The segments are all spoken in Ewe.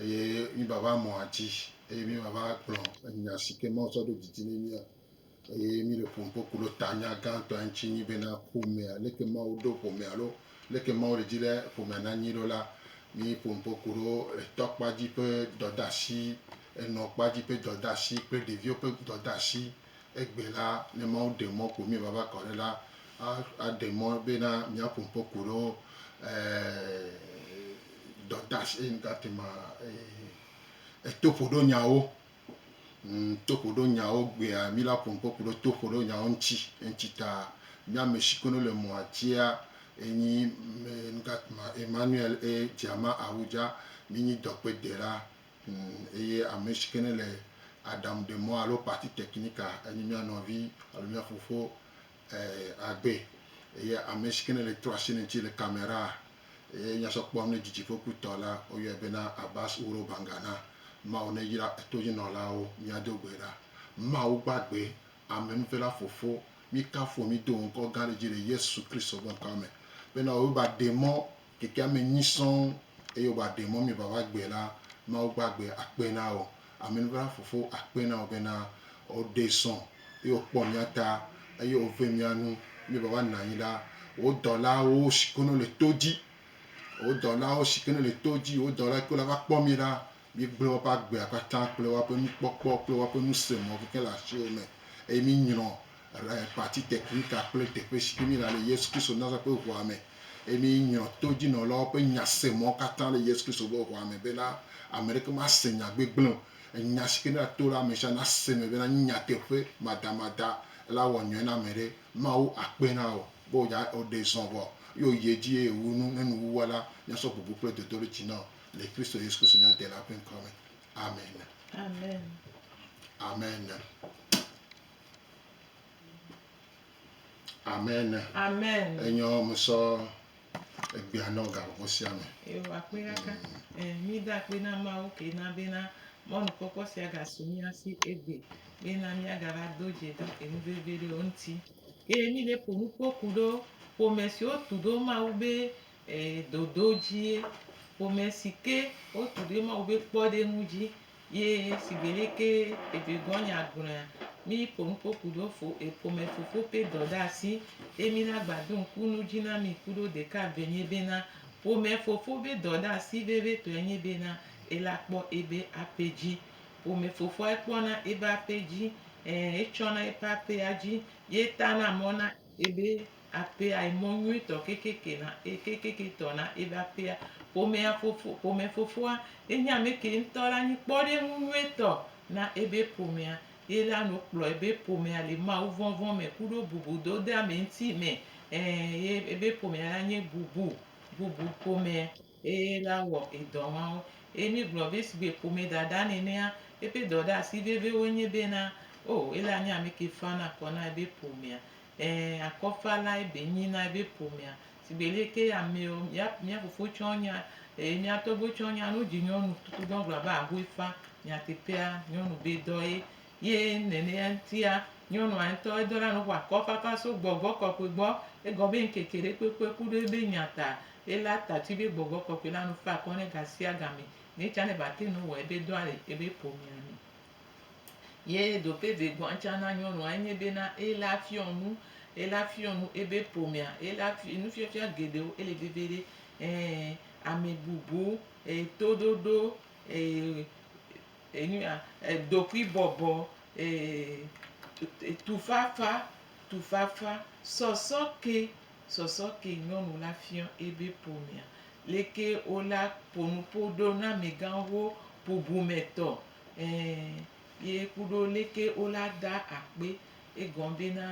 eye mí va va mɔa dzi eye mí va va gblɔ enya si ke Mawu tsɔ ɖo didi ne mía. Eye mí le ƒom kpokpo ɖo ta nya gãtɔ ya ŋuti nyi bena ƒomea, leke Mawu ɖo ƒomea alo leke Mawu le dzi be ƒomea na nyi ɖo la. Mí ƒom kpokpo ɖo etɔ kpa dzi ƒe dɔdeasi, enɔ kpa dzi ƒe dɔdeasi kple ɖeviwo ƒe dɔdeasi. Egbe la, ne Mawu ɖe mɔ ƒo mí vava kɔ ɖe la, aɖe mɔ bena míaƒo ŋkɔ ku ɖo toƒoɖonyawo toƒoɖonyawo gbea. Mí la ƒo ŋkɔ ku ɖo toƒoɖonyawo ŋuti. Eŋuti ta, mía ame si kono le mɔa dzia, enyi Emmanuel et Diama Awudja. Mí nyi dɔkpedela. Eye ame si ke ne le aɖaŋu ɖe mɔ alo partie technique enye mía nɔvi alo mía fofo Agbe. Eye ame si ke ne le trɔsine ŋuti le camera eye nya sɔ kpɔm ne didiƒokpɔtɔ la, woyɔe bena Abbas Wuro Bangana. Mawu neyra etoyinɔlawo. Míado gbe ɖa. Mawu gbagbe, amenuvela Fofo, míkafu wò, mído wò ŋkɔ gã ɖe dzi le Yesu Kristo ƒe ŋkɔa me bena wò va ɖe mɔ Kekea me nyui sɔŋ eye wòva ɖe mɔ mievava gbɔe la, Mawu va gbe akpe na wò. Amenuvela Fofo akpe na wò bena wòɖee sɔ eye wòkpɔ mía ta eye wòve mía nu. Míevava nɔ anyi la, wò dɔlawo si ke nole to dzi, wò dɔlawo si ke nole to dzi, wò dɔla kewo la va kpɔ mí la, míegblẽ woƒe agbea katã kple woƒe nukpɔkpɔ kple woƒe nusemɔ̃ kekeŋ le asiwò me eye mínyrɔ le parti technical kple teƒe si ke mi la le Yesu Kristo Nazareth ƒe ʋua me eye mi nyɔ to dzinɔlawo ƒe nyasemɔ katã le Yesu Kristo ƒe ʋua me bena ame ɖeke ma se nya gbegblẽ o. Enya si ke mi ato la ame sia na se me bena nye nyateƒe madamada la wɔ nyɔe na ame ɖe. Mawu akpe na wò be wò dza wò ɖe zɔ vɔ eye wò yi edzi eye wò wu nu ne nu wu wɔ la mi asɔ bubu kple dodoɖedzi na wò le Kristo Yesu Kristo mia Dela ƒe ŋkɔ me. Amen. Amen. Amen. Amen. Amen. Enyɔ musɔ egbea nɔ gaxoxo sia me. Ewa akpe ɖaka. Eh, mi da akpe na Mawu ke na bena mɔnukpɔkpɔ sia gasu mía si egbe bena míagava do dze ɖe enu vevi ɖewo ŋuti. Eye mi ɖe ƒo nu kpɔ ku ɖo ƒome siwo tu ɖo Mawu be Ee, dodo dzie. Ƒome si ke wotu ɖe Mawu be kpɔɖeŋu dzi ye sigbe lɛ ke egbegɔ̃nya gblɔea, Miƒo nu ƒo ku ɖo fo e ƒome fofo ƒe dɔ ɖe asi, eye mina gba do ŋku nu dzi na mi ku ɖo ɖeka ve nye bena, ƒome fofo be dɔ ɖe asi vevitɔe nye bena ela kpɔ ebe aƒe dzi. Ƒome fofoa ekpɔna ebe aƒe dzi. Ɛɛ, etsɔna eƒe aƒea dzi ye tana mɔ na. Ebe aƒea yi mɔ nyuitɔ kekeke na kekeketɔ na ebe aƒea. Ƒomea fofo ƒomefofoa ye nye ame ke ŋutɔ la nyi kpɔɖeŋu nyuitɔ na ebe ƒomea. Ye la nu kplɔ ebe ƒomea le mawuvɔvɔ̃ me kuɖo bubudodeameŋuti me. Ẽ, ye ebe ƒomea la nye bubu bubu ƒomea. Eye la wɔ edɔ mawo. Eye mi gblɔ be sigbe ƒome dada nenea, eƒe dɔ ɖe asi veve woe nye be na, oh, ele anye ameke fa na kɔ na ebe ƒomea. Ẽ, akɔ fa la ebe nyi na ebe ƒomea. Sigbe leke ya meɔ, mia, mia fofo tsɔ nya, eye mia tɔgbe tsɔ nya nu dzi nyɔnu tutu dɔ gblɔ be ahoe fa. Nyateƒea, nyɔnu be dɔ ye. Ye nenea ŋutia, nyɔnua ŋutɔ edɔ la nu ƒo akɔ fafa so gbɔgbɔ kɔkɔe gbɔ. Egɔ be ŋkeke ɖe kpekpe ku ɖe ebe nya ta. Eya ta tsi be gbɔgbɔ kɔkɔe la nu fa akɔ ne gasiagame ne tsa ne va te nu wɔ ebe dɔa le ebe ƒomea me. Ye do pe ve gɔa tsa na nyɔnua enye be na eya fiɔ nu eya fiɔ nu ebe ƒomea eya fi nufiɔfia geɖewo ele veve ɖe e ame bubu e toɖoɖo e enuya e ɖokui bɔbɔ e tufafa tufafa sɔsɔ ke. Sɔsɔ ke nyɔnu la fiɔ ebe ƒomea leke wo la ponu po ɖo na megan ho bubu me tɔ ɛ ye kuɖo leke wo la da akpe egɔn be na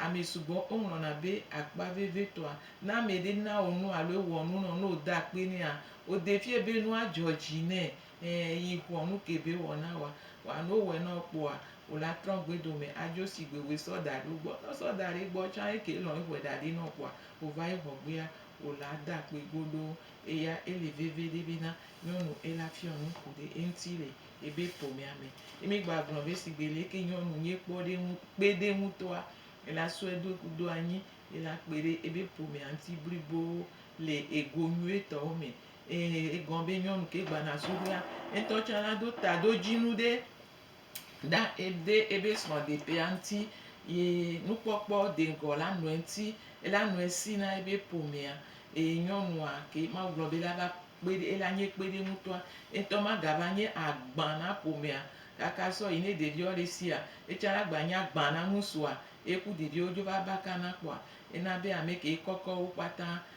ame sugbɔ wo ŋlɔna be akpa veve tɔa. Ne ame ɖe na wo nu alo ewɔ nu nɔ ne wo da akpe nɛa, wo de fiɛ be nua dzɔ dzi nɛ Ẽ, yi ŋɔ nu kebe wɔ na wòa. Wòa ne wowɔɛ na wò kpoa, wò la trɔ gbe dome adzo shigbe wòe sɔ da ɖe wo gbɔ. Ne wosɔ da ɖe egbɔ tsã eke lɔ̃ eŋe ɖa ɖi na wò kpoa, wòva yi ŋɔ gbea, wò la da akpe godoo. Eya ele veviɖe bena nyɔnu ela fiɔ nuku ɖe eŋuti le ebe ƒomea me. Ye mi gba gblɔ be shigbe leke nyɔnu nyuie kpɔ ɖe ŋu, kpe ɖe ŋutɔa, ela sɔe do ku do anyi, ela kpe ɖe ebe ƒomea ŋuti blibo le ego nyuietɔwo me. Ee, egɔ̃ be nyɔnu ke gbana suɖoea, etɔ tsã la do taɖodzinu ɖe ɖa ɖe ebe srɔ̃ɖeƒea ŋuti ye nukpɔkpɔ deŋgɔ la nɔe ŋuti. Ela nɔe si na ebe ƒomea. Ee, nyɔnua ke Mawu gblɔ be ela va kpe ɖe, ela nye kpeɖeŋutɔa, etɔ magava nye agbã na ƒomea kaka sɔ yi ne ɖeviawo le sia, etsã la gba nye agbã na ŋusua, eku ɖeviawo dzo va baka na kpɔa, ena be ame ke kɔkɔ wo kpata.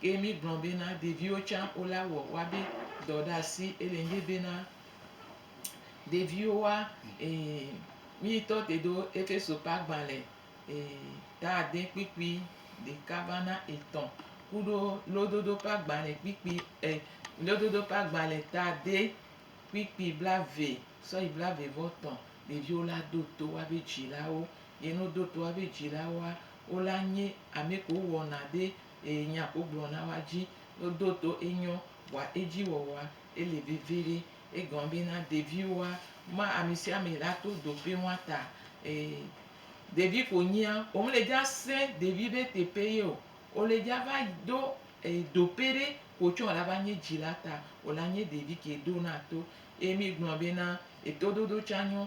Ke mi gblɔ bena, Ɖeviwo tsã o la wɔ woabe dɔ ɖe asi. Ele nyi bena, ɖeviwo wa, e, mi ŋutɔ te ɖo Efeso ƒe agbalẽ, e, ta ade kpikpi ɖeka va na etɔ̃ kuɖo lododo ƒe agbalẽ kpikpi, e, lododo ƒe agbalẽ ta ade kpikpi blave sɔ yi blave vɔ tɔ̃. Ɖeviwo la ɖo to woabe dzilawo. Ye ne woɖo to woabe dzilawoa, wo la nye ame kewo wɔna ɖe eye nya wogblɔ na woa dzi ɖoɖo to enyɔ bua edzi wɔwɔa ele viviɖi. Egɔme be na ɖeviwoa ma amesiame la to doƒe woa ta eye ɖevi ko nyia wome le dza se ɖevi be teƒe ye o. Wole dza va ɖo doƒe ɖe ko tsɔ la va nye dzila ta. Wola nye ɖevi ke ɖo na to eye mi gblɔ be na etoɖoɖo tsa nyɔ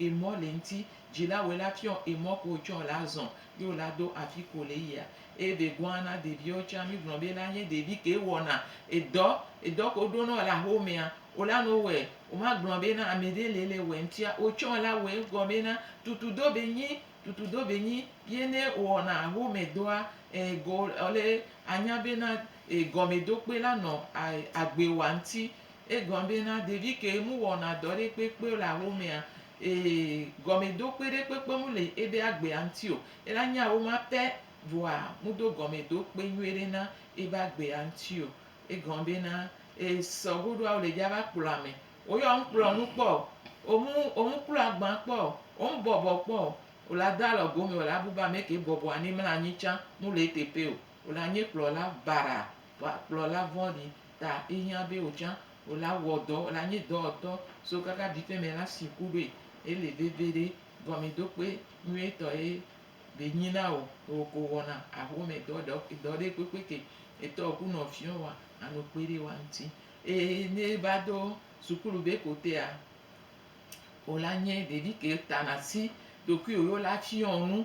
Emɔ le ŋti dji la wòe la fiɔ emɔ ko wòtsɔ la zɔ ye wòla do afi ko wòle yia eye be gɔa na ɖeviwo tsã mi gblɔ be la nye ɖevi ke wɔna edɔ edɔ ko ɖo nɔ le axomea wòla nɔ wowɔɛ woma gblɔ be na ameɖe le le wɔɛ ŋtia wòtsɔ la wɔɛ egɔ me na tutu do be nyi tutu do be nyi ye ne wowɔna axome dɔa e go le anya be na e gɔme do kpe la nɔ a agbe wa ŋti. Egblɔ be, Na ɖevi ke mu wɔna dɔ ɖe kpekpe o le axomea, ee, gɔmedokpe ɖe kpekpe mu le ebe agbea ŋti o. Ela nya woma pɛ, vɔa mudo gɔmedokpe nyuie ɖe na ebe agbea ŋti o. Egblɔ be, Na ee, sɔ goɖoa wole dja va kplɔ ame. Woyɔ ŋ kplɔ nu kpɔ o. Omu, omu klo agban kpɔ o. Omu bɔbɔ kpɔ o. Ola do alɔ gome, ola bu be ameke bɔbɔa ne mla anyi tsa, mu le eteƒe o. Ola nye kplɔla baraa. Wa kplɔla vɔ̃ɖi ta ehiã be wò tsã wò la wɔ dɔ, wò la nye dɔwɔtɔ so kaka vive me la si ku ɖoe. Ele veve ɖe, gɔmedokpe nyuietɔ ye be nyi na wò, wò ko wɔna ahome dɔ ɖekpekpe ke etɔwò ku nɔviwo wa ano kpe ɖe wa ŋuti. Eye ne eva do sukulu be ko tea, wò la nye ɖevi ke tana si ɖokuiwò ye wò la fiɔ nu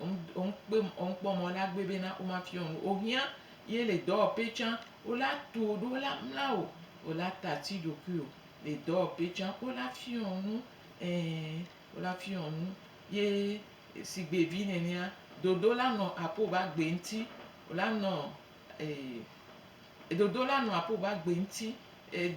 Womkpɔ mɔ na gbé bé na woma fiɔ nu o hiã yé lé dɔwɔpé tsã wo la tuo ɖo wo la mla o wo la ta ti ɖokui o lé dɔwɔpé tsã wo la fiɔ nu ɛ wo la fiɔ nu yé sigbé vi nɛnɛa dodo la nɔ apo ba gbé ŋti wo la nɔ dodo la nɔ apo ba gbé ŋti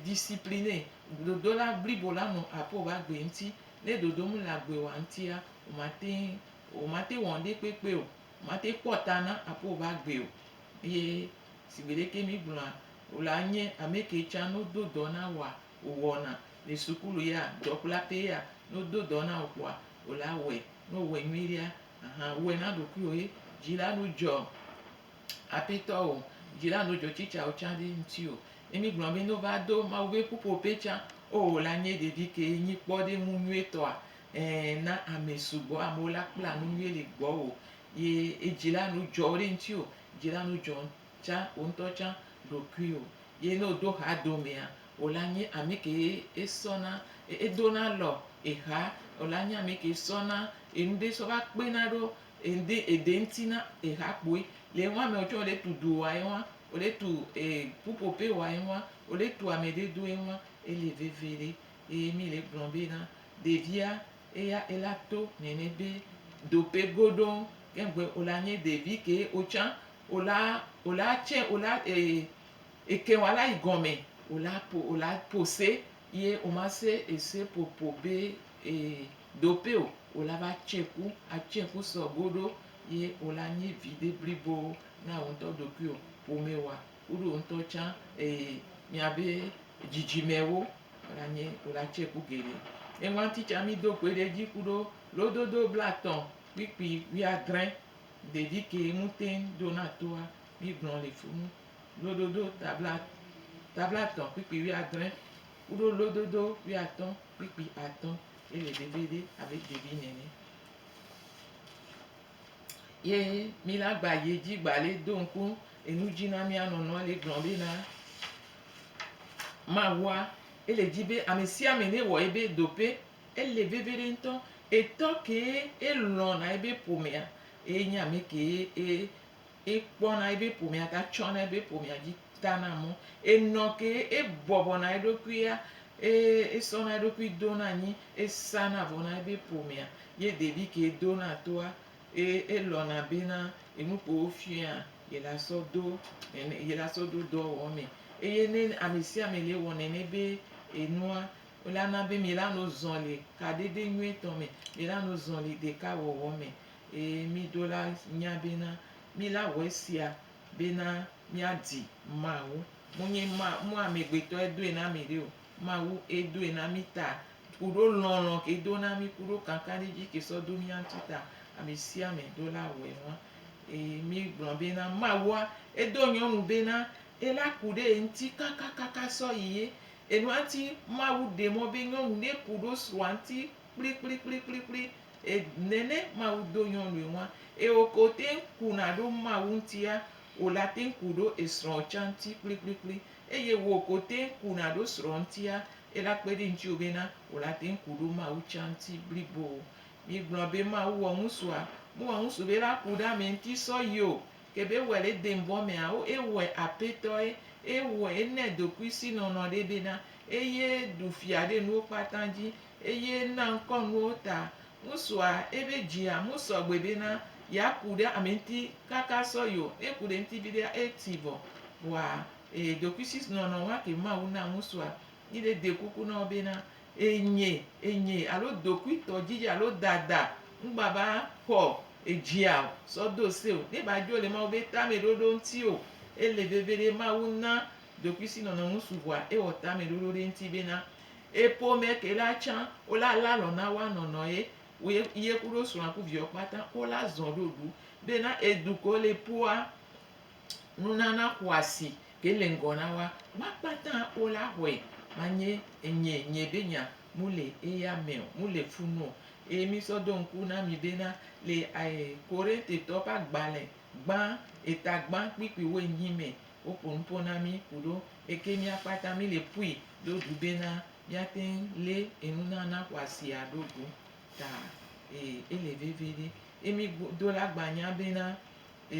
disciplinɛ dodo la blibo la nɔ apo ba gbé ŋti né dodo mé lé agbé wa ŋtia woma teŋ. O mate wɔ ŋɖe kpekpe o, mate kpɔ ta na aƒe va gbe o. Eye sigbe ɖeke mi gblɔa, o la nye ame ke tsa no do dɔ na woa, o wɔna, le sukulu ya, dɔkpla pɛ ya, no do dɔ na o kpɔa, o la wɔe. No wɔe nyui ɖea, ahan, wɔe na ɖokuiwo he, dzi la no dzɔ Apetɔ o, dzi la no dzɔ tsi tsa o tsa ɖe ŋti o. Ne mi gblɔ be no va do Mawu be ƒuƒo pɛ tsa, o la nye ɖevi ke nyi kpɔ ɖe ŋu nyuie tɔa, Ẽ, na ame sugbɔ, amewo la kpla nu nyuie ɖe gbɔwò ye edzi la nu dzɔ wo ɖe ŋuti o, dzi la nu dzɔ tsã wò ŋutɔ tsã ɖokuiwò. Ye ne wòdo ha do mea, wò la nye ame kee esɔ na, edo na lɔ eha, wò la nye ame kee sɔ na enu ɖe sɔ va kpe na ɖo ede ede ŋuti na eha kpoe. Le eŋua mea, wotsɔ ɖe tu do wa eŋua, wòɖe tu e ƒuƒoƒe wa eŋua, wòɖe tu ame ɖe do eŋua, ele veve ɖe. Eye mi le gblɔm be na ɖevia eya ela to nɛnɛ be dope goɖoŋ keŋgbe ola nye ɖevi ke otsã ola ola tse ola e eke wala yi gɔme ola po ola po se ye oma se ese popo be e dope o ola va tse ku atse ku sɔ goɖo ye ola nye viɖe blibo na woŋtɔ ɖokuio pomewoa. Woɖo ŋutɔ tsã eye miabe dzidzimewo la nye wlatse ku geɖe. Eŋuati tsã mi do kpe ɖe edzi ku ɖo lododo blatɔ kpikpi wuiadrẽ ɖevi ke ŋu teŋ ɖo na toa mi gblɔ le funu. Lododo tablatɔ kpikpi wuiadrẽ ku ɖo lododo wuiatɔ kpikpi atɔ ye le ɖevi ɖe abe ɖevi nene. Ye mí la gba yi edzi gba le do ŋku enu dzi na mía nɔnɔ le gblɔ be na Mawua, ele dzi be ame sia ame ne wɔ ebe do ƒe. Ele veve ɖe ŋutɔ. Etɔ kee elɔ̃ na ebe ƒomea, eye nye ame kee e. Ekpɔna eƒe ƒomea ta tsɔna eƒe ƒomea dzi tana mɔ. Enɔ ke ebɔbɔna eɖokui ya eye esɔna eɖokui dona anyi esana vɔ na eƒe ƒomea ye ɖevi ke dona toa eye elɔ̃na bena enu ke wofiaa ye la sɔ do nene ye la sɔ do dɔ wɔwɔ mee. Eye ne ame sia ame le wɔ nene be enua la na be mi la no zɔli kaɖiɖi nyuitɔ me mi la no zɔli ɖeka wɔwɔ me. Eye mí ɖola nya bena mí la wɔ esia bena mía di Mawu. Mo nye ma, mo amɛgbetɔ e doe na mɛɖe o. Mawu e doe na mí ta kuɖo lɔlɔ ke do na mí kuɖo kankanɖedzi ke sɔ do mía ŋuti ta. Amɛsiamɛ ɖola wɔ enua. Eye mí gblɔ bena Mawua e do nyɔnu bena ela ku ɖe ye ŋuti kakakaka sɔ yi ye. Enua ŋuti Mawu ɖe mɔ be nyɔnu ne kuɖo srɔa ŋuti kplikplikplikplikpli e nɛnɛ Mawu do nyɔnue ŋua eo ke oteŋ kuna ɖo Mawu ŋutia ola teŋ ku ɖo esrɔ tsa ŋuti kplikplikpli eye wò ke oteŋ kuna ɖo srɔ ŋutia ela kpeɖi ŋutsiwo bena ola teŋ ku ɖo Mawu tsa ŋuti blibo. Mi gblɔ be Mawu wɔ ŋusua? Me wɔ ŋusu be la ku ɖe amɛ ŋuti sɔyio ke be ewɔɛ le denvɔ mea o ewɔɛ apɛtɔe ewɔɛ enɛ dokui si nɔnɔ ɖɛ bena eye ɖu fia ɖe nuwo kpata dzi Eye na ŋkɔ nuwo ta. Ŋusua, ebe dzia mu sɔgbe be na ya ku ɖe ame ŋti kaka sɔ yo. Ne ku ɖe ŋti viɖea e ti vɔ. Vɔa e ɖokuisi nɔnɔ wa ke Mawu na ŋusua. Yi ɖe de kuku nɔwo be na e nye, e nye alo dokui tɔ djidji alo dada ŋgba ba xɔ edzia o sɔ do se o. Ne ba djo le Mawu be tame ɖoɖo ŋti o. Ele veve ɖe Mawu na ɖokuisi nɔnɔ ŋusu vɔa e wɔ tame ɖoɖo ɖe ŋti be na. Eye ƒomɛ ke la tsã wo la le alɔ na woa nɔnɔ ye wo ye ye kuɖo srɔ̃a ku viwo kpata wo la zɔ̃ ɖo ɖu be na edu ke wo le ƒoa nunana xɔasi ke le ŋgɔ na woa ma kpata wo la xɔe ma nye enye nye be nya mu le eya mɛ o mu le fu nu o. Eye mi sɔ do ŋku na mi be na le e Korintitɔwo ƒe agbalẽ gbã eta gbã kpikpiwo enyi mɛ Woƒo nu ƒo na mí ku ɖo eke mía kpata mí le pui ɖo ɖu be na mía teŋ lé enu na na xɔa sia ɖo go ta e e le veve ɖe. E mí gbo do la gba nya be na e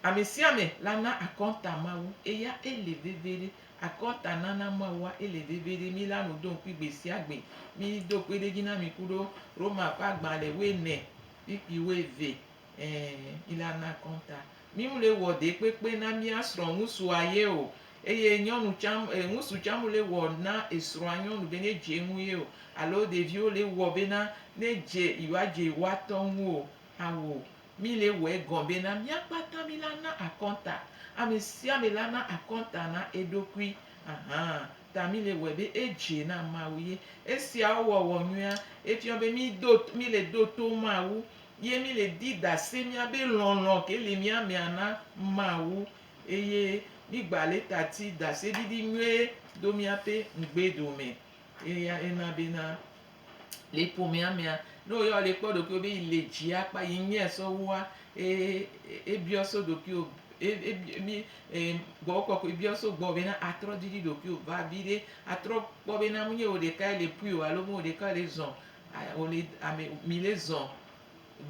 ame sia ame la na akɔnta Mawu eya e le veve ɖe. Akɔnta nana Mawua e le veve ɖe. Mí la nu do ŋkui gbe sia gbe. Mí do kpeɖedzi na mi ku ɖo Roma ƒe agbalẽ woe ne kpikpi woe ve. Ẽ, mìlana kɔnta. Mímlɔe wɔ ɖekpekpe na mía srɔ̃ ŋusua ye o, eye nyɔnu tsã, e, ŋusu tsã mlɔe wɔ na esrɔ̃a nyɔnu be ne dze eŋu ye o, alo ɖeviwo le wɔ bena ne dze yewoadze yewoatɔ ŋu o. Ao, míle wɔe gɔ̃ bena mía kpata mílana akɔnta. Amesiame lana akɔnta na eɖokui. Ahan, ta míle wɔe be edze na Mawu ye. Esia wɔwɔ nyuia, efiɔ be mído, míle ɖo to Mawu Ye mi le di dase mia be lɔlɔ ke le mia mea na Mawu, eye mi gba le ta ti dase ɖiɖi nyuie do mia ƒe ŋgbe ɖo me. Eya ena be na le ƒomea mea, ne wo ya le kpɔ ɖokuiwo be yi le dzi akpa yi nyuie sɔ wua, e biɔ so ɖokuiwo, gbɔgbɔ kɔkɔe biɔ so gbɔ be na atrɔ ɖiɖi ɖokuiwo va viɖe, atrɔ kpɔ be na mu nye wo ɖeka le pui o alo mu wo ɖeka le zɔn Wole ame mi le zɔ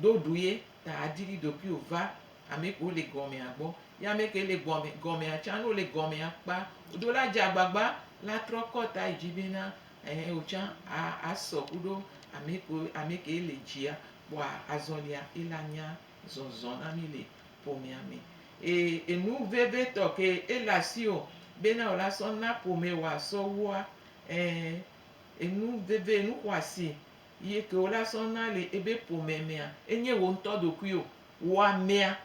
do ɖu ye ta a diri ɖokuiwo va ame kewo le gɔmea gbɔ. Ye ame ke le gɔme gɔmea tsan ne wole gɔmea kpa do la dze agbagba la trɔ kɔ ta yi dzi be na ɛhɛ wo tsan a asɔ kuɖo ame kewo ame ke le dzia kpɔa azɔlia ye la nya zɔzɔ na mi le ƒomea me. Eye enu vevitɔ ke ele asiwò be na wò la sɔ na ƒome wòa sɔ wua ɛɛ. Enu veve, enu xɔasi yi ke wola sɔ na le ebe ƒome mea, enye wò ŋutɔ ɖokuiwò. Wò amea,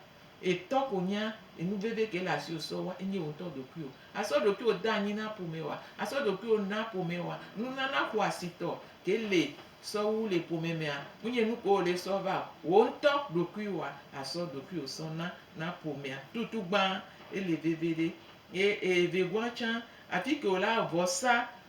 etɔ ko nya enu veve ke le asiwò sɔ wa, enye wò ŋutɔ ɖokuiwò. Asɔ ɖokuiwò de anyi na ƒome wa, asɔ ɖokuiwò na ƒome wa. Nunana xɔasitɔ ke le sɔ wu le ƒome mea, menye nu ke wòle sɔ va o. Wò ŋutɔ ɖokuiwòa, asɔ ɖokuiwò sɔ na na ƒomea. Tutugbã, ele veviɖe. Ye evegoa tsã, afi ke wòlea vɔsa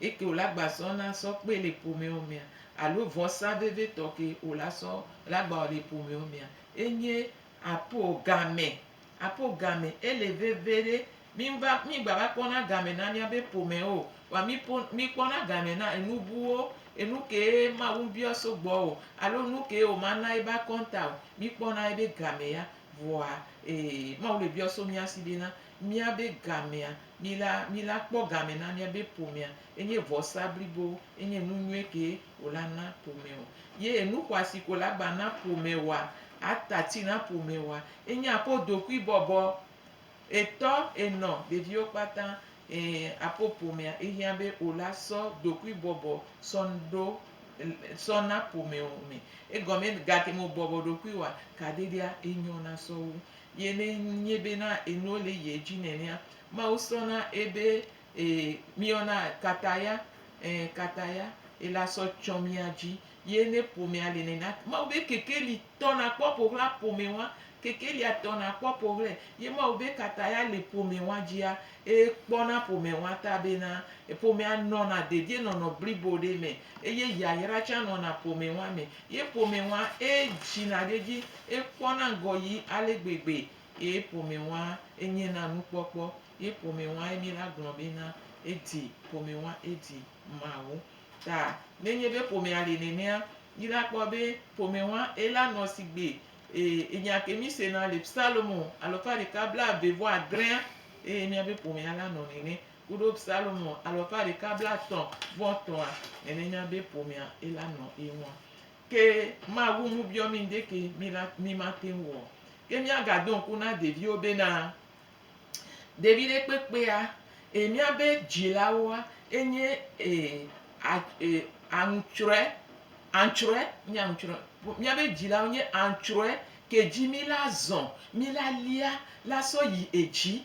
Eke wòle agba sɔ na sɔ kpe le ƒomewo mea alo vɔsa vevitɔ ke wòla sɔ le agba le ƒomewo mea enye apo game. Apo game ele veve ɖe. Mi va mi gba va kpɔna game na miabe ƒome o. Vɔa mi po mi kpɔna game na enu buwo, enu kee Mawu ŋbiɔ so gbɔ o alo nu kee woma na ebe akɔnta o. Mi kpɔna ebe game ya vɔa e Mawu le biɔ so mia si bena. Míabe gamea, mila, mila kpɔ game na míabe ƒomea, enye vɔsa blibo, enye nu nyuie kee wòla na ƒome o. Ye enu xɔasi ko la gba na ƒome wɔa, ata ti na ƒome wɔa, enye aƒo dokui bɔbɔ. Etɔ, enɔ, ɖeviwo kpata, e, aƒo ƒomea, ehiã be wòla sɔ dokui bɔbɔ sɔ ɖo, sɔ na ƒome o me. Egɔme, gake me wòbɔbɔ ɖokui wɔa, kaɖeɖea, enyɔ na sɔ wu. Ye ne nye be na enuwo le ye dzi nenea, Mawu sɔ na ebe e miɔ na kataya, e kataya e la sɔ tsɔ mia dzi. Ye ne ƒomea le nenea, Mawu be kekeli tɔ na kpɔ ƒoxla ƒome wa, kekelia tɔ na kpɔ ƒoxlɛ. Ye Mawu be kataya le ƒome wa dzia, e kpɔ na ƒome wa ta be na ƒomea nɔ na dedie nɔnɔ blibo ɖe me, eye yayra tsa nɔ na ƒome wa me. Ye ƒome ŋua eye dzina ɖe edzi eye kpɔna ŋgɔ yi ale gbegbe. Ye ƒome ŋua eye nye na nukpɔkpɔ. Ye ƒome ŋua eye mi la gblɔ be na eye di ƒome ŋua eye di Mawu. Ta ne nye be ƒomea le nenea, mi la kpɔ be ƒome ŋua eye la nɔ sigbe. Eye nya ke mi sena le Psalmo alɔfa ɖeka bla eve vɔ adrea eye mia be ƒomea la nɔ nene. Kuɖo Psalmo alafa ɖeka blatɔ̃ vɔ tɔa, nɛnɛ nya bé ƒomea é la nɔ é ŋua. Ké Mawu ŋu biɔ mi ŋɖéké mi la mi ma teŋ wɔ o. Ké mia ga do ŋku na ɖéviwo bé na ɖévi ɖé kpékpéa e mia bé dzilawoa é nyé e a e aŋtsrɔɛ antsrɔɛ nyé aŋtsrɔɛ mia bé dzilawo nyé antsrɔɛ ké dji mi la zɔn mi la lia la sɔ yi edji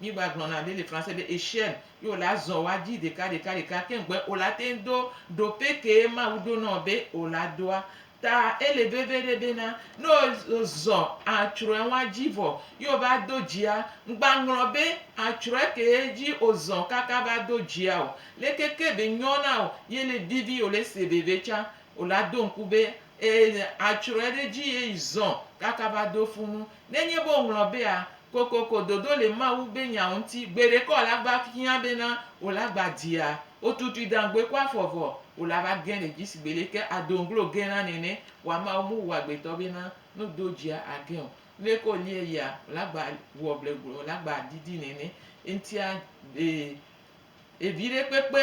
Mí gba gblɔ na ɖe le français be echelle ye wo la zɔ wa dzi ɖeka ɖeka ɖeka keŋ gbe wo la teŋ do ɖo pe ke Mawu ɖo nɔ be wo la doa. Ta ele veve ɖe be na ne wo zɔ atsrɔe wa dzi vɔ ye wo va do dzia, ŋgba ŋlɔ be atsrɔe ke ye dzi wo zɔ kaka va do dzia o. Leke ke be nyɔ na wo ye le vivi wo le se veve tsa wo la do ŋku be e atsrɔe ɖe dzi ye yi zɔ kaka va do funu. Nenye be woŋlɔ bea, Kokoko dodo le Mawu be nyawo ŋuti, gbeɖeka wòle agba hiã bena wòle agba dzia, wotutui dangboe kɔ afɔ vɔ, wòle ava ge le dzi sigbe le ke ado ŋglo ge na nene, wa Mawu mu wu agbetɔ bena ne wodo dzia age o. Nuleke wòlie yia, wòle agba wɔ bleble, wòle agba didi nene. Eŋutia, ee, ee, viɖe kpekpe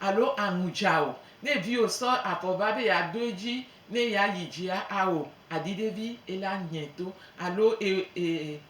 Alo aŋu dza o ne viwò sɔ avɔ va be yeado edzi ne yeayi dzia? Ao, aɖi ɖe vi ele anyɛ to. Alo e, e, e,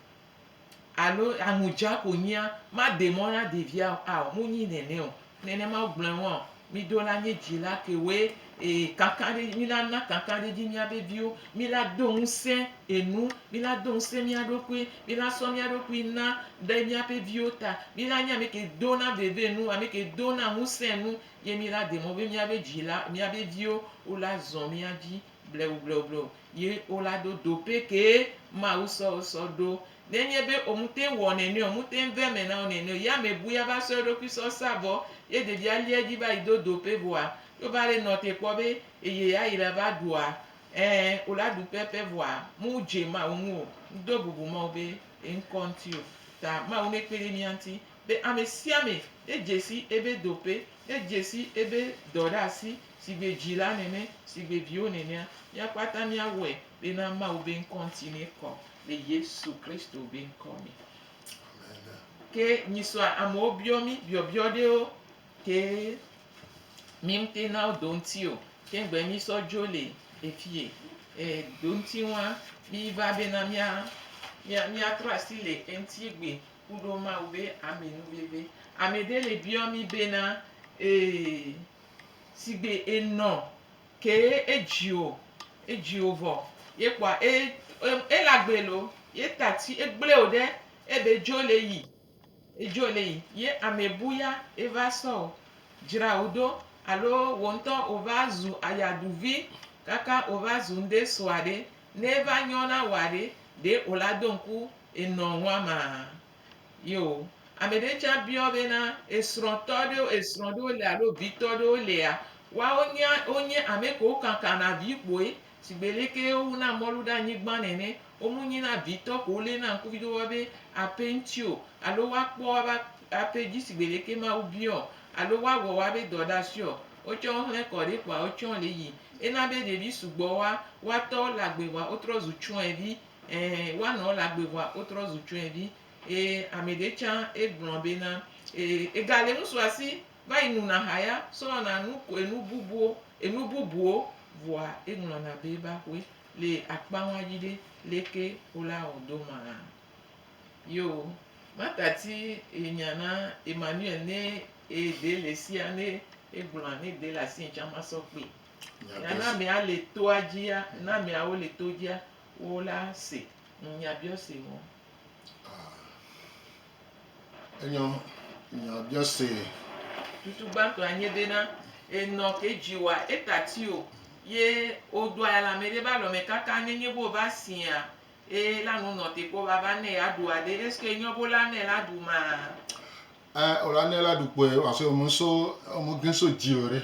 alo aŋu dza ko nyia, maɖe mɔ na ɖevia o. Ao, munyi nɛnɛ o. Nenema wogblɔe wɔa o. Miɖo la nye dzila kewoe Ee, kakaɖedzi, mina na kakaɖedzi míaƒe viwo. Mina do ŋusẽ enu. Mina do ŋusẽ mía ɖokui. Mina sɔ mía ɖokui na ɖe míaƒe viwo ta. Mina nye ame ke dona veve nu, ame ke dona ŋusẽ nu, ye mina de mɔ be míaƒe dzila, míaƒe viwo wola zɔ mía dzi bleubleubleub ye wola ɖo dope ke Mawu sɔ sɔ ɖo Nenye be womete ŋu wɔ nene o, womete ŋu vea eme na wo nene o, ye ame bui ava sɔ eɖokui sɔ sa vɔ, ye ɖevia lia edzi va yi do doƒe vɔa, ye wova ɖe nɔ te kpɔ be eye ya yi ɖava ɖua, ẽ, wo la ɖu pɛpɛ vɔa, me wodze Mawu ŋu o. Ŋdo bubu Mawu be yeŋkɔ ŋuti o. Ta Mawu nekpe ɖe mía ŋuti be ame sia ame nedze si ebe doƒe, nedze si ebe dɔ ɖe asi sigbe dzila nene, sigbe viwo nenea, mía kpata mía wɔe bena Mawu be ŋkɔ ŋuti nekɔ. le Yesu Kristo be ŋkɔ me. Ke nyisɔ amewo biɔ mí biɔbiɔ ɖewo ke mí ŋute na wo do ŋuti o. Ke ŋgbe mí sɔ dzo le efie e do ŋuti ŋua mí va bena mía mía míatrɔ asi le eŋuti gbe ku ɖo Mawu be ame nu veve. Ame ɖe le biɔ mí bena e sigbe enɔ Ke edzi o, edzi o vɔ ye kpɔa e e la gbe lo ye ta ti e gble o ɖe e be dzo le yi e dzo le yi ye ame bu ya e va sɔ o dzra o ɖo alo wo ŋtɔ o va zu aya ɖu vi kaka o va zu ŋɖe sɔa ɖe ne va nyɔ na wa ɖe ɖe o la do ŋku enɔ ŋua maa. Yo, ame ɖe tsã biɔ be na esrɔ̃tɔ ɖewo, esrɔ̃ ɖewo le alo vitɔ ɖewo lea? Woawo nye, wonye ame kewo kankana vi kpoe, shigbe leke wowu na mɔlu ɖe anyigban nene. Womu nyi na vitɔ ko wolé na ŋku viɖe woabe aƒe ŋuti o, alo woakpɔ woabe aƒe dzi shigbe leke Mawu biɔ o, alo woawɔ woabe dɔ ɖe asi o. Wotsɔ wo hlẽ kɔ ɖi kpoa wotsɔ wo le yi. Ena be ɖevi sugbɔ woa, woa tɔwo le agbe vɔa wotrɔ zu tsyɔ̃evi. Ẽ, woanɔ ela gbe vɔa wotrɔ zu tsyɔ̃evi. Eye amɛɖe tsã egblɔa be na e, ega le ŋusu asi vayi nuna ha ya sɔna nu ko enu bubuwo, enu bubuwo vɔa eŋlɔna be ebe axɔe le akpa ŋua dzi ɖe leke wole awɔ do maa. Yo, Marta ti enya na Emmanuel ne eɖe le esia ne egblɔa ne eɖe le asinye tsã masɔ kpee. Nya Ya ne ɖe si. amea le toa dzia, ne ameawo le to dzia, Wo la se nunyabiɔse ŋɔ. A. Enyɔ nunyabiɔse. Tutu gbãtɔ a nye be na enɔ ke dji wa eta ti o ye o do aya le amɛɖe be alɔmɛ kaka ne nye be o va sia e la nu nɔ te kpɔ vava nɛ a ɖu aɖe eske enyɔ be o la nɛ la ɖu ma a? Ɛ o la nɛ la ɖu kpoe ɔ so ɔmu so ɔmu gin so dzi o ɖe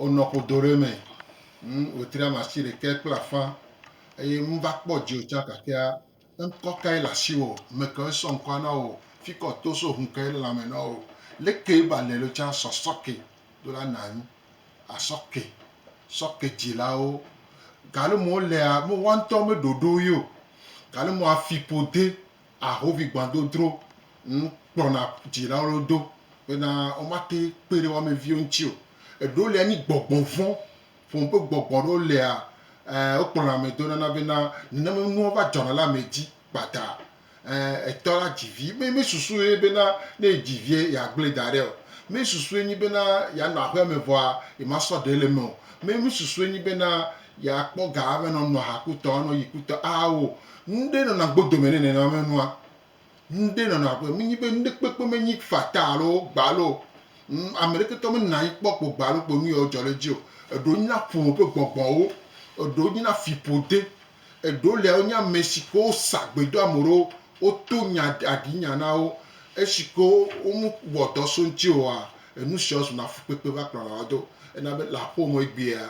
o nɔ ƒodo ɖe mɛ ŋ o tri ama si ɖekɛ kple afã eye ŋ va kpɔ dzi o tsa kakea ŋkɔ kae le asi o mekɛ o sɔ ŋkɔa nɔ o fikɔ to so hun kae le lãme nɔ o leke ba le lo tsa sɔ sɔ ke do la na ŋ a sɔ ke sɔ ke dzi la o gale mɔ lea me wa ŋtɔ me ɖoɖo yo gale mɔ afi ƒode Ahovigbadodro ŋu kplɔna dzilawo ɖo do bena womate kpe ɖe wo ame viwo ŋuti o. Eɖewo lia nyi gbɔgbɔ vɔ̃ ƒome ƒe gbɔgbɔ aɖewo lia e wokplɔna ame do nana bena nenema nua va dzɔna ɖe ame dzi kpata. E etɔ la dzi vi me mesusu ɣi bena ne edzi vie yeagblẽ da ɖɛ o. Mesusue nyi bena yeanɔ aƒea me vɔa yemasɔ ɖe le eme o. Me mesusue nyi bena Ya kpɔ ga abe nɔ nɔ ha kutɔ anɔ yi kutɔ awo ŋɖe nɔna gbodo me ne nɛnɔ me nua ŋɖe nɔna abe me nyi be ŋɖe kpekpe me nyi fata alo gbalo ŋ ame ɖeke tɔ me nɔna anyi kpɔ kpo gbalo kpo nu yɔ jɔ ɖe dzi o eɖo nyi na ƒome ƒe gbɔgbɔ wo eɖo nyi na fiƒo de eɖo le wo nyi ame si ke wo sa gbe do ame ɖewo wo to nya aɖi nya na wo esi ke wo wo me wɔ dɔ so ŋti oa enu sia wo zu na fukpekpe va kplɔna wo do ena be le aƒewo me egbea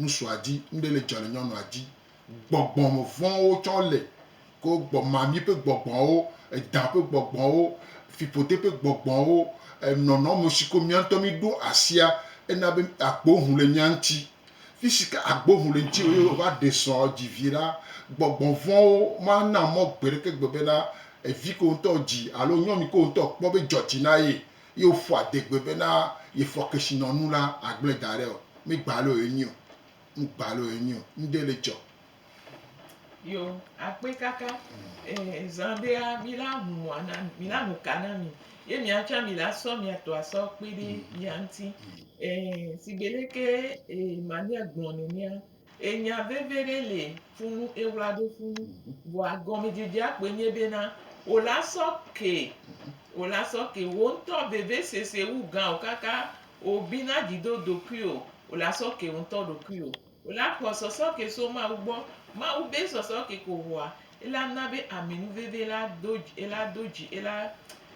Ŋutsua dzi, nuɖe le dzɔ le nyɔnua dzi. Gbɔgbɔmevɔ̃wo tsɔ le. Ko gbɔ, mami ƒe gbɔgbɔwo, edã ƒe gbɔgbɔwo, fiƒode ƒe gbɔgbɔwo, nɔnɔme si ko mía ŋutɔ míɖo asia, ena be agbo ŋu le mía ŋuti. Fi si ke agbo ŋu le ŋutiwò ye wòva ɖe srɔ̃, dzi vi la, gbɔgbɔ vɔ̃wo mana mɔ gbeɖekegbe bena vi ke wò ŋutɔ dzi alo nyɔnu ke wò ŋutɔ kpɔ be dzɔdzi na ye. Ye wofɔ adegbe bena yefɔ kesinɔnu la agblẽ da ɖe o. Mi gba lɔ ye nyi o. Nu gba lɔ ye nyi o. Nuɖe le dzɔ. Yo akpe kaka eh zã ɖea mi la ŋu mɔa na mi, mi la ŋu ka na mi. Ye mia tsã mi la sɔ mia tɔ asɔ kpe ɖe ya ŋuti. Eh sigbe leke eh mania gblɔ nenea Enya veve ɖe le funu ewla ɖo funu vɔa gɔmedzedzea kpoe nye bena wola sɔ ke wola sɔ ke wo ŋutɔ veve sese wu gã o kaka wobi na dzi do ɖokui o wola sɔ ke wo ŋutɔ ɖokui o wola kpɔ sɔsɔ ke so mawu gbɔ mawu be sɔsɔ ke ko vɔa ela na be aminu veve la do ela do dzi ela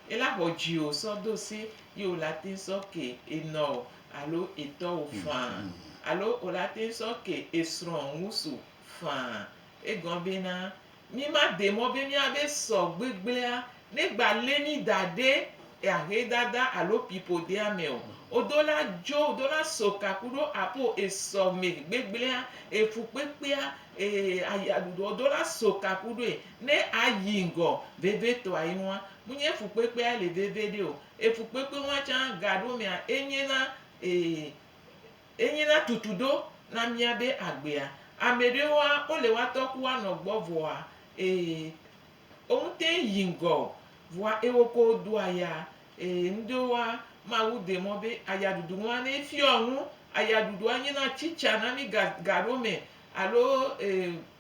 ela xɔ dzi o sɔ do se ye wola te sɔ ke enɔ o alo etɔwo faa alo wòle ate sɔ ke esrɔ̃ ŋusu faa. Egɔn bena, mi ma de mɔ be mia be sɔ gbegblea ne gba le mi da ɖe ahe dada alo pipo dea me o. Odo la djo, odo la so ka kuɖo apo esɔ me gbegblea, efu kpekpea, ee aya ɖuɖu odo la so ka kuɖoe ne ayi ŋgɔ veve tɔa ye ŋua. Mu nye fu kpekpea le veve ɖe o, Efukpekpe wan tsã gaɖo mea enye na ee enye na tutuɖo na mía be agbea. Ameɖewoa wole woatɔ ku wanɔ gbɔ vɔa ee omu teŋ yi ŋgɔ o vɔa ewo ko do aya ee ŋɖewoa Mawu de mɔ be aya ɖuɖu ŋua ne efiɔ nu. Aya ɖuɖua nye na tsitsa na mí ga gaɖo me alo ee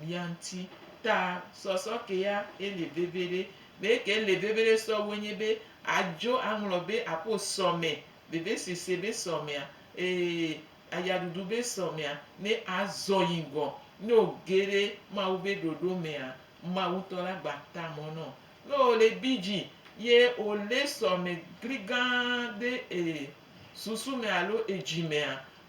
mia ŋuti ta sɔsɔ ke ya ye le veviɖe. Be ke le veviɖe sɔ woe nye be adzo aŋlɔ be aƒo sɔme, vevesese be sɔmea, ee, ayaɖuɖu be sɔmea ne azɔ yi ŋgɔ. Ne woge ɖe Mawu be ɖoɖo mea, Mawu ŋutɔ la gba ta mɔ na wo. Ne wole bidzi ye wole sɔme gligã ɖe e susu me alo edzi mea,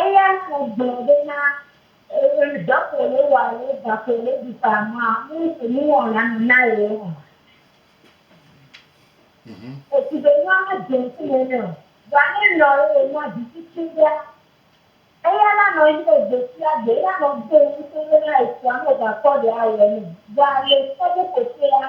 Eya ta gblɔ ɖo na dɔ ko wole wa alo ga ko wole ɖu fa ma nu si nu wɔ la nɔ na Yehowa. Esi be nua ma dze ŋkume nɛ o. Vɔa ne enɔ ye wònɔa viviti ɖea, eya la nɔ anyi ɖe gbe sia gbe. Eya nɔ vɔ̃m ŋutɔ bena esɔa meva kpɔ ɖe awɔe nɛ o. Vɔa le ŋkeke ɖe ko ƒea,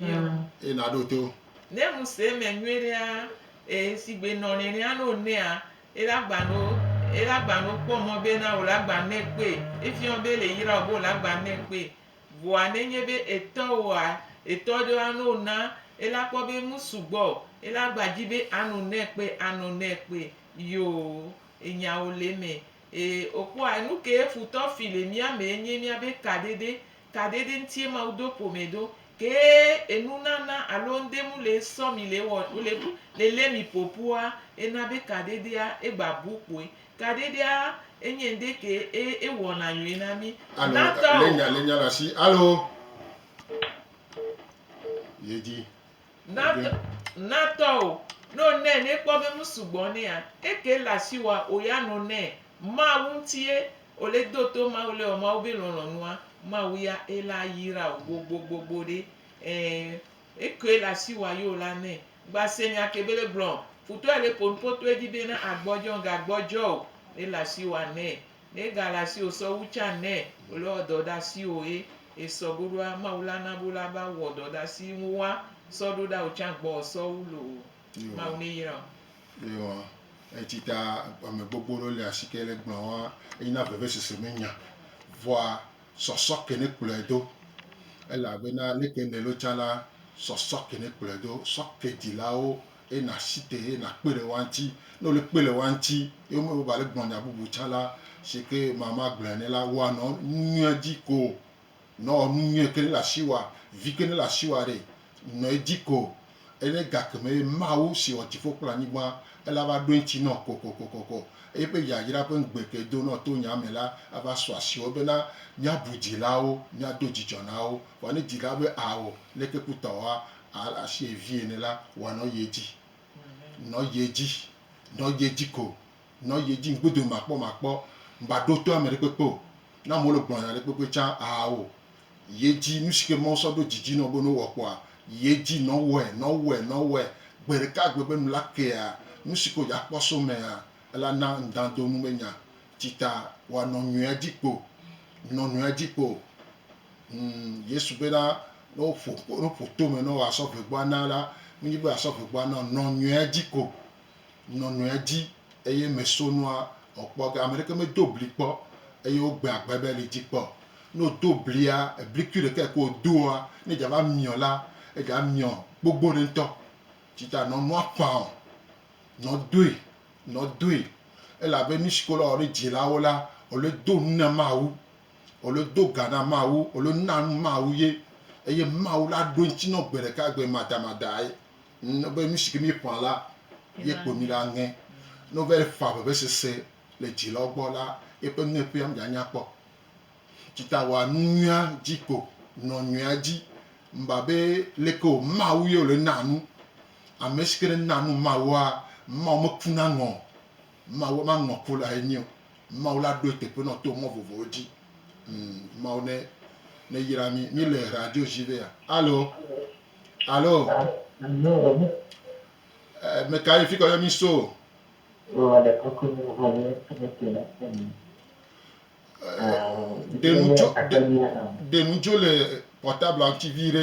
Míawo. Eye nàɖo to. Ne ŋu se eme nyuiɖea, ee, sigbe nɔ nenea ne wònɛa, ele agba ne wo, ele agba ne wokpɔ mɔ bena wòle agba ne kpe, efiɔ wo be ele yra wo be wòle agba ne kpe. Vɔa nenye be etɔ woa, etɔ ɖewo ane wo na, ele akpɔ be nu sugbɔ o, ele agba dzi be ano ne kpe, ano ne kpe. Yoo, enyawo le eme. Ee, wòkpɔa enu kee futɔ fi le mía mee nye míabe kaɖeɖe, kaɖeɖe ŋutie Mawu do ƒome ɖo. Kee enunana alo ŋudenu le sɔ mi le wɔ, le, le lé mi ƒoƒua, ena be kaɖeɖea egba bu kpoe. Kaɖeɖea enye ŋɖe ke e, ewɔna nyɔe na mí. Alo, Na ta lé o. nya, lé nya ɖe asi. Alo. Yedzi. Natɔ, natɔ o, no nɛ ne kpɔ be nu sugbɔ nɛa, eke le asi wa o ya no nɛ. Mawu ŋutie o le do to Mawu le wɔ Mawu be lɔlɔnua, Mawu ya e la ayira o gbogbogbogbo ɖe. Ɛ, eke le asi wa yo la nɛ. Gba se nya ke be le gblɔ, futɔ le ponpotoe dzi be na agbɔdzɔ, ga gbɔdzɔ o, ele asi wa nɛ. Ne ega le asiwò sɔ wu tsa nɛ wòle wɔ dɔ ɖe asiwò ye esɔ go ɖoa, Mawu la na be wole ava wɔ dɔ ɖe asi ŋu woa sɔ ɖo ɖa wò tsa gbɔ wò sɔ wu loo. Mawu ne yra wò. Eyɔ eti ta ame gbogbo ɖewo le asi ke le gblɔ wa eyi na veve sese me nya. Vɔa sɔsɔ ke ne kplɔe do. Ela be na leke le lo tsa la sɔsɔ ke ne kplɔe do. Sɔ ke dilawo Eye nàsi te eye nàkpe le woa ŋuti. Ne wòle kpe le woa ŋuti ye wome baba le gblɔ nya bubu tsã la, si ke ma magblɔe nɛ la, wɔ nɔ nu nyuie dzi ko. Nɔ nu nyuie ke ne le asi wòa, vi ke ne le asi wòa ɖe, nɔ edzi ko. Eye ne gake me eye Mawu si wɔ dziƒo kple anyigba, ela va ɖo eŋuti nɔ kokokokoko, eye eƒe yayra ƒe ŋugbe ke do nɔ to nya me la, ava sɔ asi wo bena míabu dzilawo, míado dzidzɔ na wo. Vɔ ne dzila be, Ao, leke kutɔwoa Al asi vie ne la wa nɔ ye dzi nɔ ye dzi nɔ ye dzi ko nɔ ye dzi ŋgbedo makpɔ makpɔ ŋba ɖo to amɛɖe kpekpe o na mɔ le gblɔnya ɖe kpekpe tsa awo ye dzi nusike mɔ sɔ ɖo dzidzi nɔ be no wɔ kpɔa ye dzi nɔ wɛ nɔ wɛ nɔ wɛ gbeɖeka gbe be nula kea nusiko ya kpɔ so mɛa ela na ŋdando nu me nya tsita wa nɔ nyuia dzi kpo nɔ nuia dzi kpo. Ŋ, Yesu bena, ne woƒo, ne woƒo tome ne woasɔ ʋegboa na la, menye be asɔ ʋegboa na o, nɔ nyɔea dzi ko, nɔ nyɔea dzi, eye me so nua ɔkpɔ ge. Ame ɖeke medo bli kpɔ eye wogbe agbe be li dzi kpɔ. Ne wodo blia, eblikui ɖekae ke wodoa, ne dza va miɔ la, edza miɔ gbogbo ɖe ŋutɔ. Tsi ta nɔ nua ƒã o, nɔ doe, nɔ doe, elabe nusi ke wole wɔ ɖe dzilawo la, wole do nu na Mawu. Wòlo do ga na Mawu, wòlo na nu Mawu ye, eye Mawu la ɖo ŋuti nɔ gbe ɖeka gbe madamadae nɔ be nu si ke míeƒã la ye kpo mí la ŋe. Ne wova yi ƒã vevesese le dzilawo gbɔ la, yeƒe nueƒea mìanya kpɔ. Tsi ta wɔa nu nyuia dzi ko, nɔ nyuia dzi. Meva be leke wò Mawu ye wòle na nu. Ame si ke ne na nu Mawua, Mawu mekuna ŋɔ o. Mawu maŋlɔ ku lae nyi o. Mawu la ɖoe teƒe nɔ to mɔ vovowo dzi. Ŋ, Mawu ne, neyra mí. Mí le radio dzi vea? Alo? Alo? Ɛ, meka ye fikɔ yɔ mí so? Ɛ, ɖe nu dzo, ɖe, ɖe nu dzo le portable-a ŋuti viɖe.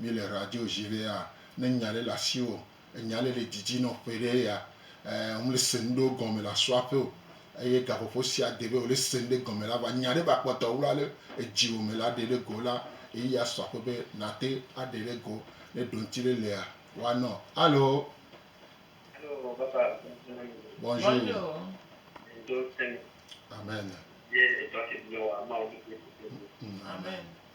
Mi le radio ʒi ɖe ya ne nya ɖe le asiwò enya ɖe le didi nɔ ƒe ɖe ya eh ŋle se ŋɖewo gɔme le asɔ aƒe o eye gaƒoƒo sia de be wòle se ŋɖe gɔme la va nya ɖe va kpɔtɔ wla le edziwò me la ɖe ɖe go la eyi ya sɔ aƒe be nate aɖe ɖe go ne ɖoŋti ɖe lea wa nɔ alo. Alo papa bonjour bonjour amen. Amen.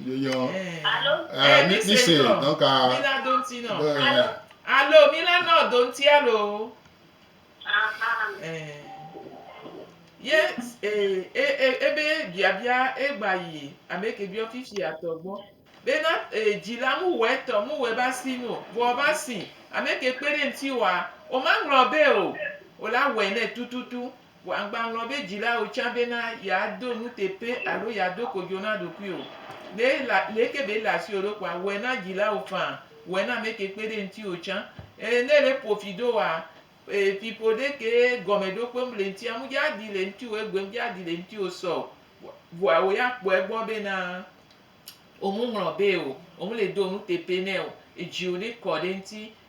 Yeyɔ. Alo. Eh, mi mi se donc a. Mi la do ŋuti nɔ. Alo. Alo mi la nɔ do ŋuti alo. Ahan. Eh. Ye eh eh ebe biabia egba yi ameke biɔ fifia tɔ gbɔ. Be na eh dzila mu wɛ tɔ mu wɛ ba si nu. Vɔ ba si ameke kpe ɖe ŋuti wa o ma ŋlɔ be o o la wɛ nɛ tututu. Vɔ agbalɔ̃ be dzilawo tsã bena yeado nuteƒe alo yeado kodzo na ɖokuiwò. Ne ele, leke be ele asiwò ɖo kpoa, wɔe na dzilawo faa, wɔe na ameke kpe ɖe ŋutiwò tsã. E, ne ele ƒo fi ɖo woa, e, fiƒoɖe kee gɔmeɖokpewo le ŋuti, amu dza ɖi le ŋutiwò, egbem dza ɖi le ŋutiwò sɔ o. Vɔa wò ya kpɔe egbɔ bena womu ŋlɔbee o, womele do nuteƒe nɛ o, edziwò ne kɔ ɖe eŋuti,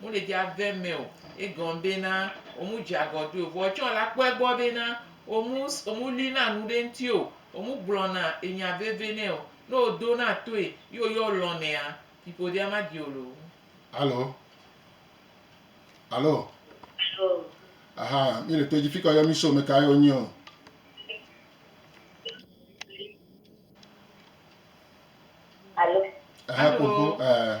Mu le dza ve mɛ o. Egɔn be na wo mu dze agɔ do o. Vɔ etsɔ la kpɔɛ gbɔ be na wo mu wo mu li na nu ɖe ŋti o. Wo mu gblɔ na enya veve nɛ o. Ne wo do na toe yi wo yɔ lɔn nɛa, fiƒodea ma di wo loo. Alo? Alo? Alo? Aha, mi le to dzi fika yɔ mi so me ka ye wo nyi ɔ? Alo? Aha, Alo? kpokpo, eh.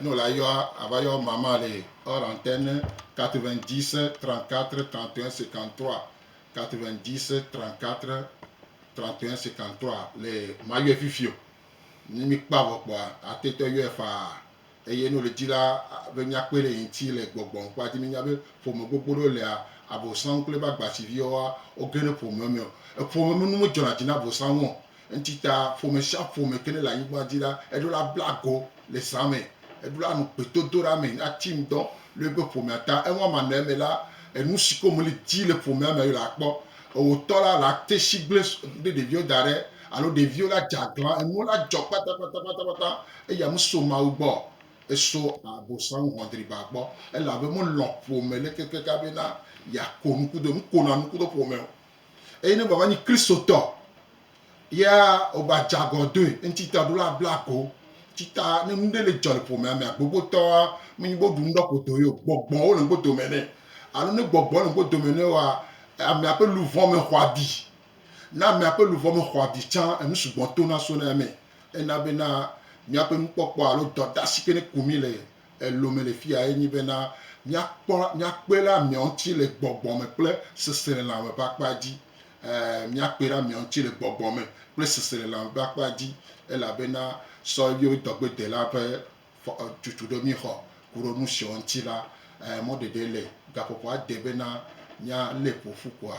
Ne wòle ayɔ, ava yɔ mama le hors antenne 90 34 31 53, 90 34 31 53 le mayɔe fifi o. Ne míkpɔ avɔ kpɔa, ate ŋu ayɔe faa. Eye ne wòle dzi la, be míakpɔe ɖe yeŋuti le gbɔgbɔ ŋkpɔa dzi. Míenya be ƒome gbogbo ɖewo lea, Abosam kple eƒe agbasiviwoa, woge ɖe ƒome me. Eƒome me nu medzɔna dzi na Abosam o. Eŋti ta ƒome sia ƒome ke ne le anyigba dzi la, eɖo la bla go le zã me. Eɖo la nɔ gbedodoɖa me na ti ŋdɔ le eƒe ƒomea ta. Eŋu ama nɔ eme la, enu si ke womeli di le ƒomea me la kpɔ. Ewotɔ la la te si gble ɖe ɖeviwo da ɖe alo ɖeviwo la dze aglã. Enuwo la dzɔ kpatakpatakpata eya meso Mawu gbɔ o. Eso Abosam hɔdriba gbɔ elabe melɔ̃ ƒome le kekeka bena yeako nu kudo, nukonɔa nu kudo ƒome o. Eye ne wòava nyi Kristotɔ ya wògbadze agɔdɔe, eŋuti ta ɖo la abla ago. Eŋuti ta ne nu ɖe le dzɔ le ƒomea mea, gbogbotɔa menye be woɖu nu ɖɔ ƒo do ye o, gbɔgbɔwo le ŋgo dome nɛ. Alo ne gbɔgbɔ le ŋgo dome nɛ oa, amea ƒe luʋɔ me xɔ abi. Ne amea ƒe luʋɔ me xɔ abi tsã, enu sugbɔ tona sona eme. Ena bena míaƒe nukpɔkpɔ alo dɔdeasi ke ne ku mí le Elome le fiya enye bena míakpɔ, míakpe ɖe amea ŋuti le gbɔgbɔ me kple seselelãme ƒe akpa dzi. Ẽ, míakpe ɖe amea ŋuti le gbɔgbɔ me kple seselelãme ƒe akpa dzi, elabena sɔ eviwo dɔgbedela ƒe tutu ɖe mí xɔ. Ku ɖe nu siawo ŋuti la, ẽ, mɔɖeɖe le. Gaƒoƒoa de bena míalé ƒo ƒu koa,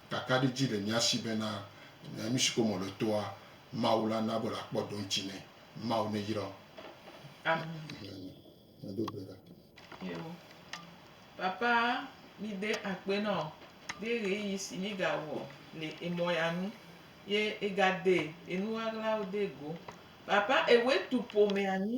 Kakaɖedzi le mía si bena nu si ko me wòle toa, Mawu la na be wòakpɔ ɖoŋti nɛ. Mawu neyra wo. Amen. Eo. Papa, mí de akpe nɔ ɖe ɣeyiɣi si mí ga wɔ le emɔ ya nu ye e ga de enu ɣaɣlawo de go. Papa, e wɛtu ƒomea nyi.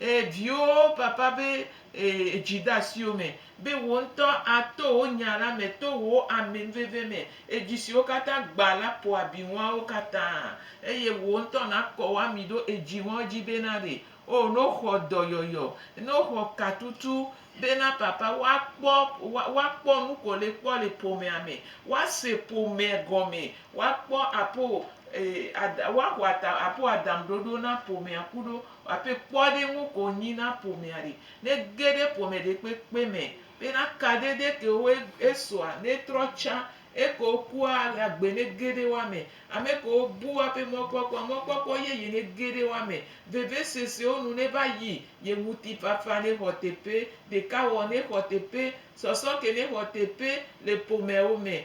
Ee, viwo, vava be ee, dzi ɖe asiwò me, be wò ŋutɔ ato wò nya la me to wò ameveve me, edzi siwo katã gbã la ƒo abi ŋuawo katã, eye wò ŋutɔ nàkɔ wò ami ɖo edzi ŋuawo dzi be na ɖe. Oo, ne woxɔ dɔyɔyɔ, ne woxɔ katutu be na papa woakpɔ, woa, woakpɔ nu ko le kpɔ le ƒomea me, woase ƒome gɔme, woakpɔ aƒo, ee, ada, woaxɔ ata, aƒo adaŋuɖoɖo na ƒomea kuɖo. Hafi kpɔɖeŋu ko wònyi na ƒomea ɖe. Ne ege ɖe ƒome ɖekpekpe me bena kaɖe ɖe ke wo esɔa, ne etrɔ tsa eke wokua, ale agbe ne ge ɖe woa me. Ame ke wobu woaƒe mɔkpɔkpɔ, mɔkpɔkpɔ yeye ne ge ɖe woa me. Vevesesewo nu ne va yi, ye ŋutifafa ne xɔ teƒe, ɖekawɔwɔ ne xɔ teƒe, sɔsɔ ke ne xɔ teƒe le ƒomeawo me.